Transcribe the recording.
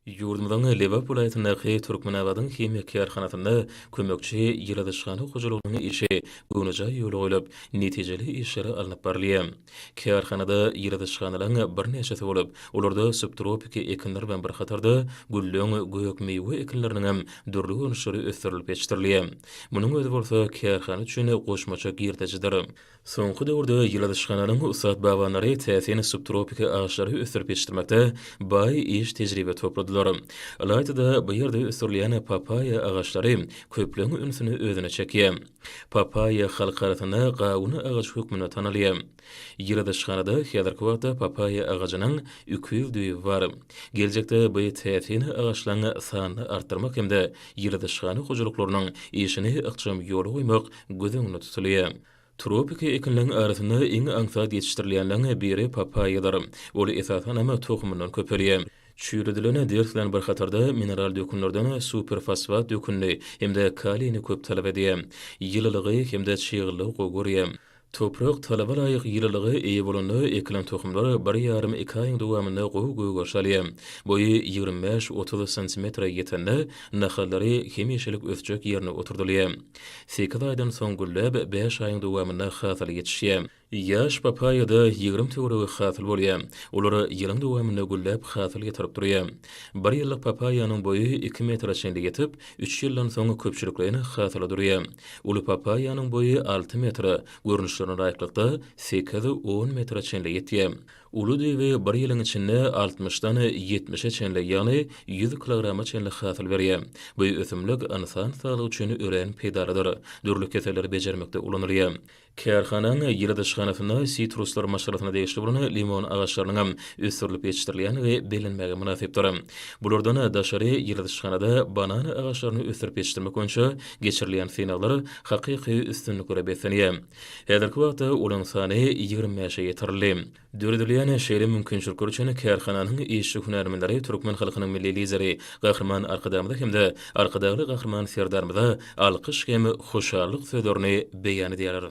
Ýurdumyzyň Lebap welaýatyndaky Türkmenabadyň himiýa kärhanasynda kömekçi ýyladyşhana hojalygynyň işi göwnejaý ýola goýlup, netijeli işleri alnyp barylýar. Kärhanada ýyladyşhanalaryň birnäçesi bolup, olarda subtropiki ekinler bilen bir hatarda, gülleň, gök miwe ekinleriniň hem dürli görnüşleri ösdürilip ýetişdirilýär. Munuň özi bolsa kärhana üçin goşmaça girdejidir. Soňky döwürde ýyladyşhananyň ussat bagbanlary täsin subtropiki agaçlary ösdürip ýetişdirmekde baý iş tejribe topladylar. Ylaýta-da, bu ýerde ösdürilýän papaýa agaçlary köpleň ünsüni özüne çekýär. Papaýa halk arasynda gawun agajy hökmünde tanalýar. Ýyladyşhanada häzirki wagtda papaýa agajynyň iki ýüz düýbi bar. Geljekde bu täsin agaçlaň sanyny artdyrmak hem-de ýyladyşhana hojalyklarynyň işini ykjam ýola goýmak göz öňünde tutulýar. Tropiki ekinleň arasynda iň aňsat ýetişdirilýänleň biri papaýadyr. Ol esasanam tohumyndan köpelýär. Çüýredilen ders bilen bir hatarda mineral dökünlerden superfosfat dökünini hem-de kaliýni köp talap edýär. Ýylylygy hem-de çyglylygy gowy görýär. Toprak talaba laýyk ýylylyga eýe bolanda ekilen tohumlar bir ýarym-iki aýyň dowamynda gowy gögeriş alýar. Boýy ýigrimi bäş-otuz santimetre ýetende nahallary hem-ýeşillik ösjek ýerine oturdylýar. Sekiz aýdan soň gülläp, bäş aýyň dowamynda hasyly ýetişýär. Ýaş papaýada ýigrimi töweregi hasyl bolýar. Olar ýylyň dowamynda gülläp, hasyl ýetirip durýar. Bir ýyllyk papaýanyň boýy iki metre çenli ýetip, üç ýyldan soň köpçülikleýin hasyla durýar. Uly papaýanyň boýy alty metre, görnüşlerine laýyklykda, sekiz, on metre çenli ýetýär. Uly düýbi bir ýylyň içinde altmyşdan ýetmişe çenli, ýagny ýüz kilograma çenli hasyl berýär. Bu ösümlik ynsan saglygy üçin örän peýdalydyr. Dürli keselleri bejermekde ulanylýar. Kärhananyň ýyladyşhanasynda sitruslar maşgalasyna degişli bolan limon agaçlarynyň hem ösdürilip ýetişdirilýändigi bellenmäge mynasypdyr. Bulardan daşary ýyladyşhanada banan agaçlaryny ösdürip ýetişdirmek boýunça geçirilýän synaglar hakyky üstünliklere beslenýär. Häzirki wagtda olaryň sany ýigrimi bäşe ýetirildi. Döredilýän şeýle mümkinçilikler üçin kärhananyň işçi hünärmenleri türkmen halkynyň Milli Lideri Gahryman Arkadagymyza hem-de Arkadagly Gahryman Serdarymyza alkyş hem hoşallyk sözlerini beýan edýärler.